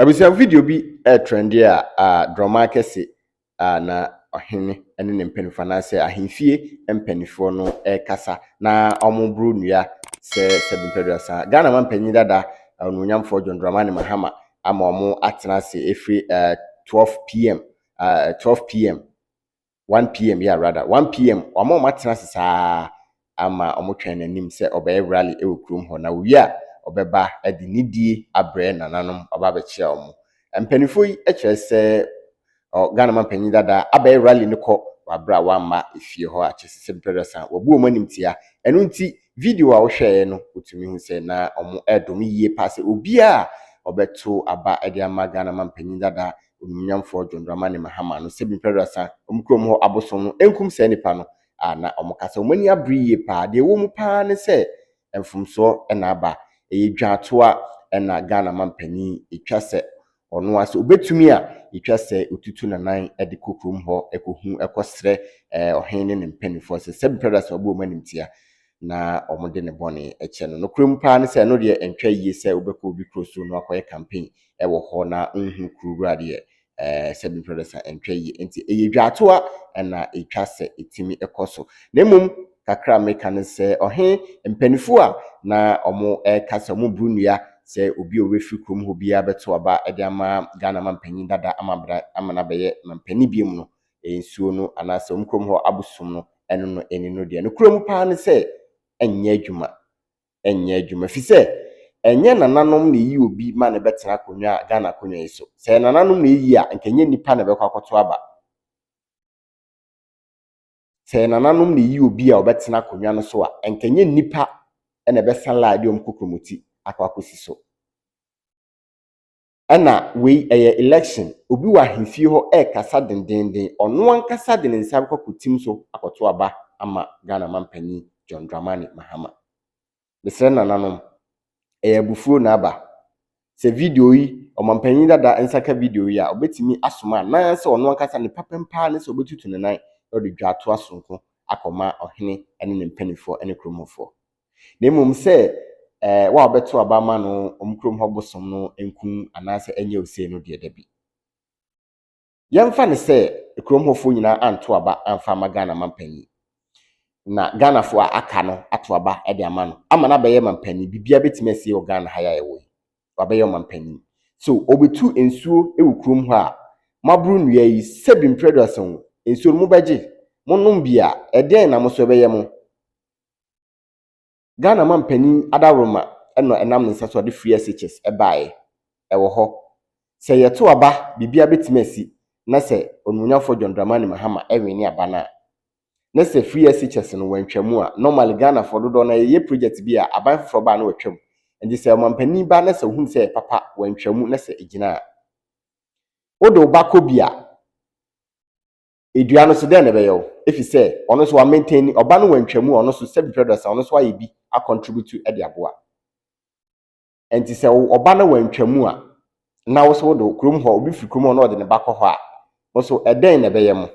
Abusua video bi retrɛnde a a drɔmaa kɛse a na ɔhene ne ne mpanyinfoɔ anaasɛ ahemfie mpanimfoɔ no rekasa na wɔreboro nnua sɛ sɛ bempeduasa. Ghana ma mpanyin dada onuonyamfoɔ John Dramani Mahama ama wɔn atena ase ɛfiri uh, 12 pm uh, 12 pm one pm yeah rather one pm wama wɔn atena ase saa ama wɔn twɛn n'anim sɛ ɔbɛyɛ rally ɛwɔ kurom hɔ na owie a ɔbɛba ɛde nidie abrɛ nananom ɔba abɛkyia wɔn mpaninfoɔ yi ɛkyerɛ sɛ ɔ Ghana man panyin dada abɛyɛ rally no kɔ wabrɛ a wamma efie hɔ a kyɛ sɛ sɛ mpɛrɛ san wabu wɔn anim tia ɛno nti video a wohwɛɛ no wotumi hu sɛ na wɔn ɛredome yie paa sɛ obiara ɔbɛto aba ɛde ama Ghana man panyin dada Onimonyamfoɔ John Dramani Mahama no sɛ nnipa aduasa a wɔn kurom hɔ abosom no nkum saa nnipa no a na wɔka sɛ wɔn ani abere yie paa. Deɛ ɛwɔ mu paa ne sɛ mfomsoɔ na aba. Ɛyɛ dwaatoa na Ghana mampanin ɛtwa sɛ ɔno ara sɛ ɔbɛtumi a ɛtwa sɛ ɔtutu nanan de kɔ kurom hɔ kɔhu kɔsrɛ ɔhene ne ne mpanimfoɔ sɛ sɛ nnipa aduasa wɔbɔ wɔn animtia na wɔde ne bɔne kyɛ no. Nokorɛm paa ne sɛ, ɛno deɛ ɛntwa yie sɛ wobɛkɔ obi kuro so na wakɔyɛ campaign wɔ hɔ na wonhunu kuro wura deɛ ɛɛ sɛ bi mfrɛ sa ɛntwa yie. Nti ɛyɛ dwaatoa na ɛtwa sɛ ɛtumi kɔ so. Na mmom kakra a meka ne sɛ, ɔhe mpanimfoɔ a na wɔka sɛ wɔboro nnua sɛ obi a ɔbɛfiri kurom hɔ biara bɛto aba de ama Ghana mampanyin dada ama bra ama no abɛyɛ mampanin biom no, nsuo no anaasɛ wɔn kurom hɔ abosom no, ɛno no ɛni no deɛ. Nokorɛ mu paa ne sɛ, ɛnyɛ adwuma. Ɛnyɛ adwuma. Ɛfiri sɛ, ɛnyɛ nananom na ɛyi obi ma no bɛtena akonnwa a Ghana akonnwa yi so. Sɛ ɛyɛ nananom na ɛyi a, nka ɛnyɛ nnipa na ɛbɛkɔ akɔto aba. Sɛ ɛyɛ nananom na ɛyi obi a ɔbɛtena akonnwa no so a, nka ɛnyɛ nnipa na ɛbɛsa line de wɔn kokromoti akɔ akɔsi so. Ɛna wei ɛyɛ election, obi wɔ ahemfie hɔ ɛɛkasa dendeenden, ɔno ankasa de ne nsa bɛkɔ akɔtim so akɔto aba ama Ghana manpanin John Dramani Mahama. Mesrɛ nananom, ɛyɛ abufuo na aba. Sɛ video yi, ɔmanpanin dada nsa ka video yi a, ɔbɛtumi asoma anaasɛ ɔno ankasa ne papɛm paa ne sɛ ɔbɛtutu ne nan na ɔde dwatoa sononko akɔma ɔhene ne ne mpaninfoɔ ne kuromufoɔ. na mmom sɛ ɛɛ wo a wobɛto aba ama no wɔn kurom hɔ bosom no nku anaasɛ ɛnyɛ ose no deɛ dabi. Yɛmfa no sɛ kurom hɔfoɔ nyinaa anto aba amfa ama Ghana manpanyin na Ghanafoɔ a aka no ato aba de ama no ama no abɛyɛ manpanyin biribiara bɛtumi asie wɔ Ghana ha yɛ a yɛwɔ yi wabɛyɛ ɔmanpanyin so ɔbɛtu nsuo wɔ kurom hɔ a moaboro nnua yi sɛbi mprɛduasa wo nsuo no mobɛgye monom bi a ɛdeɛn na mo so ɛbɛyɛ mo Ghana manpanin Ada Roma na ɛnam ne nsa so a ɔde Free SHS baeɛ. Ɛwɔ hɔ. Sɛ yɛto aba, biribiara bɛtumi asi na sɛ Onimuonyamfoɔ John Dramani Mahama wene aba no a, na sɛ Free SHS no wantwa mu a, normally Ghanafoɔ dodoɔ no ara yɛyɛ project bi a aban foforɔ ba a na watwa mu. Nti sɛ ɔmanpanin ba na sɛ ɔhunu sɛ ɛyɛ papa, wantwa mu na sɛ ɛgyina a, wode wo ba kɔ bi a, Edua no so dɛn na ɛbɛyɛ wo? Efisɛ ɔno nso wa maintain ni, ɔba no wantwa mu, ɔno nso sɛbi prɛdɔsa, ɔno nso ayɛ bi a contribute de aboa. Ɛnti sɛ wo ɔba no wantwa mu a, na wo so wo do, kurom hɔ, obi firi kurom hɔ na ɔde ne ba kɔ hɔ a, mo so ɛdɛn na ɛbɛyɛ mo?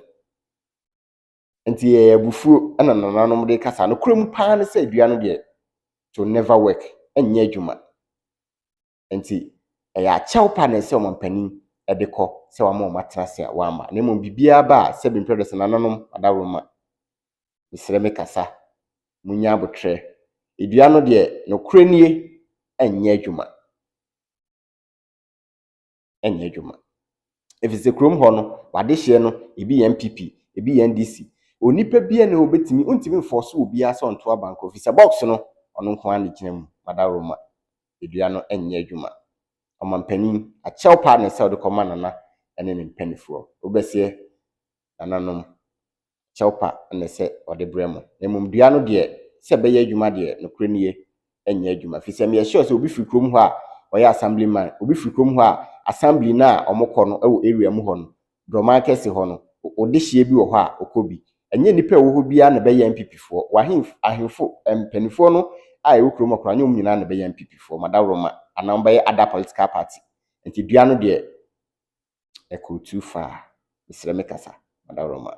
Ɛnti ɛyɛ abufuo ɛna nananom de kasa, no korɛ mu paa ne sɛ edua no deɛ to never work, ɛnyɛ adwuma. Enti, ɛyɛ akyɛw pa na ɛsɛ sɛ ɔmampanin de kɔ sɛ wama wɔn atena ase a wɔamma. Na mmom biribiara ba a, sɛbe mprɛ dɔsɛ nananom adaworoma, mesrɛ me kasa, munya abotrɛ. Dua no deɛ, nokorɛ nie, ɛnyɛ adwuma. Ɛnyɛ adwuma. Ɛfiri sɛ kurom hɔ no, w'adehyeɛ no, ebi yɛ NPP, ebi yɛ NDC. Onipa bi ne ɔbɛtumi, wontumi mfɔɔso obiara sɛ ɔnto abankɔ, ɛfiri sɛ box no, ɔno nko ara na ɛgyina mu, madaworoma. dua no nyɛ adwuma. Ɔmanpanin, akyɛw paa ne sɛ wode kɔma Nana ne ne mpanimfoɔ. Wobɛseɛ, Nananom, kyɛw pa na ɛsɛ wɔde brɛ mo. Na mmom dua no deɛ, sɛ ɛbɛyɛ adwuma deɛ, nokorɛ nie, ɛnyɛ adwuma. Firi sɛ meyɛ sure sɛ obi firi kurom hɔ a ɔyɛ assemblyman, obi firi kurom hɔ a, assembly no a wɔkɔ no wɔ area mu hɔ no, Droman kɛse hɔ no, wo dehyeɛ bi wɔ hɔ a, ɔkɔ bi. Ɛnyɛ nnipa a ɛwɔ hɔ biara na ɛbɛyɛ NPP foɔ. W'ahenf ahenfo, mpaninfoɔ no a ɛwɔ kurom hɔ koraa, ɛnyɛ wɔn nyinaa na ɛbɛyɛ NPP foɔ. Madawroma anaa wɔn bɛyɛ other political party. Nti dua no deɛ, ɛkɔɔ too far. Mesrɛ me kasa, Madawroma.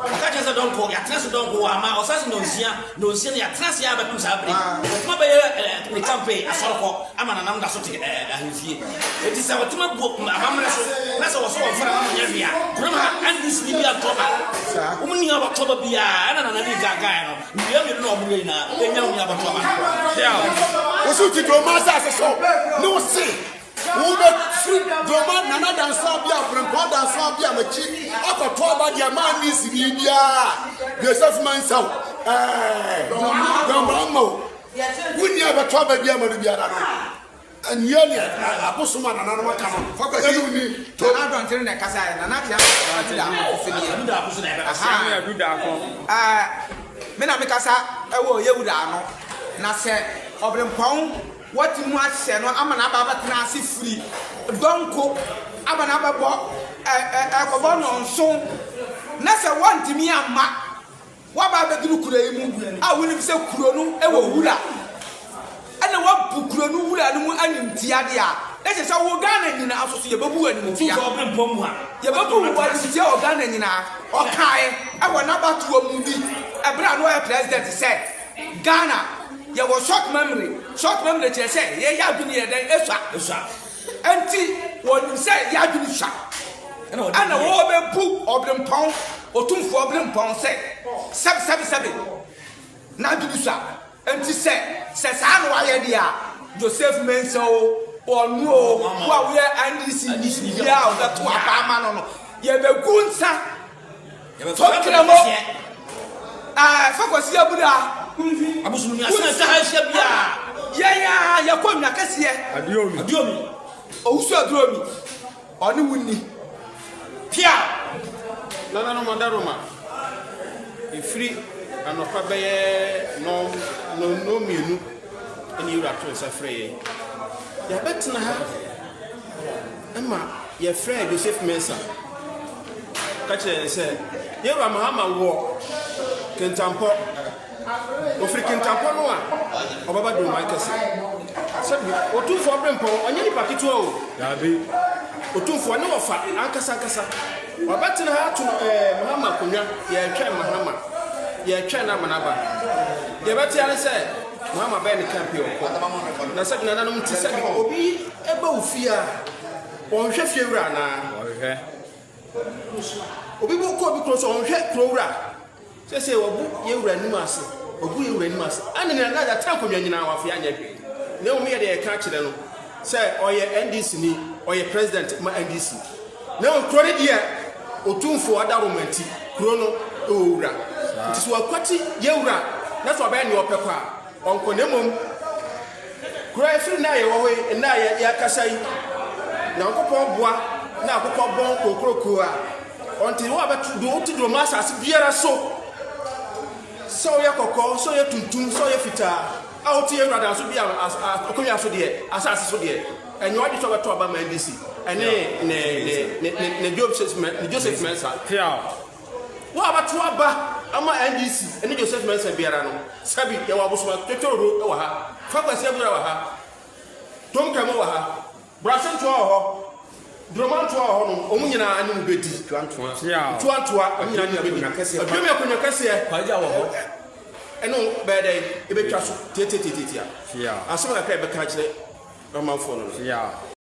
Ɔka kyerɛ sɛ dɔnkɔ, yɛatena ase dɔnkɔ wɔ ama ɔsase nnɔnsia, nnɔnsia, na yɛatena ase ara bɛpem saa bere yi. Ɔtema bɛyɛ eh, ne campaign asɔrekɔ ama nanam da so te eh, eh, ahemfie. Enti sɛ ɔtema bu mm, amammerɛ so na sɛ wɔsɔ wɔn fɛre ama wɔnyɛ hwee a, kurom ha NDC ni bi antɔ ba. Wɔn nni abɔtoɔ ba biara. Ɛna Nana Lee kaa kaeɛ no, nnua mmienu na wɔn yɛ nyinaa, ɛnya wɔn abɔtoɔ ba. Deal. Wosi ti duro ma asase so ne wo se. Wobɛfiri Dwoma Nana Dansoa Bia, Frimpong Dansoa Bia m'akyi akɔto aba deɛ manni sini biara a Joseph Mensah ɛɛ John Mahama o, wonni a ɛbɛto aba bi ama no biara no, ɛnyɛ neɛ abosom a nananom aka no, fa kɔhyɛ no woni to. Nana Adɔnkyere na ɛkasaeɛ, Nana Addo Daakon, Ahaa, me na mekasa wɔ Yawura ano, na sɛ Ɔbrempɔn. Wɔate mu ahyɛ no ama no aba abɛtena ase firi dɔnko aba no abɛbɔ ɛ ɛ ɛrekɔbɔ nnɔnso, na sɛ wɔntumi amma wɔaba abɛduru kuro yi mu a wonim sɛ kuro no wɔ wura na wɔabu kuro no wura no mu animtia deɛ a, ɛkyerɛ sɛ wo Ghana nyinaa nso so yɛbɛbu wo animtia. Yɛbɛbu wo animtia wɔ Ghana nyinaa, ɔkae wɔ n'abatoɔ mu bi berɛ a na ɔyɛ President sɛ. Ghana yɛwɔ short memory, short memory kyerɛ sɛ yɛ yɛ adwene yɛ dɛn esua, esua, ɛnti wɔ nim sɛ yɛ adwene sua, ɛna wɔ bɛ bu ɔbrempɔn, otumfoɔ ɔbrempɔn sɛ sɛbi sɛbi sɛbi, na adwene sua, ɛnti sɛ sɛ saa na wayɛ deɛ a, Joseph Mensah o, ɔno o, wo a woyɛ NDC ni biara a ɔbɛto aba ama no no, yɛ bɛ gu nsa. Yɛbɛfa Nkramo a ɛfa Kwasi Abura abosomni ase na ɛsɛ ha ahyia biara. Yɛn a yɛkɔ Nwa Kɛseɛ. Aduomi. Aduomi. Owusu Aduomi. Ɔne wo nni. Pia. Nananom Adaroma. Ɛfiri anɔpa bɛyɛ nɔm nɔnnɔ mmienu ɛne Yɛwura to nsa frɛ yɛn. Yɛabɛtena ha. Ɛma yɛfrɛɛ Joseph Mensah ka kyerɛɛ yɛn sɛ Yewura Mahama wɔ Kintampo. Ofiri Kintampo no a ɔbɛba Dwomai Kɛse. Sɛbi, Otumfoɔ Brempɔn, ɔnyɛ nipa ketewa o. Daabi, Otumfoɔ ne wɔfa ankasa ankasa. Wabɛtena ha ato eh, Mahama akonnwa. Yɛretwɛn Mahama. Yɛretwɛn no ama no aba. Deɛ yɛbɛte ara ne sɛ Mahama bɛyɛ ne camp yi ɔkɔ. Na sɛbi, nananom nti, sɛbi, obi. Ɛba wo fie a, wɔnhwɛ fiewura anaa? Wɔhwɛ. Obi kɔ obi kuro so, wɔnhwɛ kurowura? Sɛsɛ wɔbu yɛn wura anim ase, wɔbu yɛn wura anim ase. Ɛne nyina na yɛatena nkonnwa nyinaa wɔafei anyɛ hwee. Na mmom yɛde yɛka akyerɛ no sɛ ɔyɛ NDC ni, ɔyɛ president ma NDC. Na mmom kuro no deɛ otumfoɔ adaworoma nti, kuro no ɛwɔ wura. Nti sɛ wɔakwati yɛn wura na sɛ ɔbɛyɛ nea ɔpɛ kɔ a, ɔnkɔ na mmom Koraa ɛfiri nna a yɛwɔ hɔ yi, nna a yɛakasa yi, Nyankopɔn boa na akokɔ bɔn kokrokoo a, ɔnte wo a bɛto do, wote do ma asase biara so, sɛ ɔyɛ kɔkɔɔ, sɛ ɔyɛ tuntum, sɛ ɔyɛ fitaa, a wote yɛn Awurade aso bia akonnwa so deɛ, asase so deɛ, ɛnyɛ ɔgye sɛ ɔbɛto aba ma NDC ɛne ne Joseph Mensah. Wo a wobɛto aba ama NDC ne Joseph Mensah biara no, Sabi, yɛwɔ abosomatɔ titiriw wɔ ha. Fa Kwasi Abura wɔ ha. Tom Kamu wɔ ha. Brase Ntoa wɔ hɔ. Droma Ntoa wɔ hɔnom. Wɔn nyinaa ne wo bedi. Ntoa Ntoa. Ntoa Ntoa. Wɔn nyinaa ne wo bedi. Aduomi Akonwa Kɛseɛ. Kwagya wɔ hɔ. Ɛne wo bɛyɛ dɛn? Ebetwa so tiatiatiatia. Asɛm kakra a yɛbɛka akyerɛ ɔmanfoɔ no no.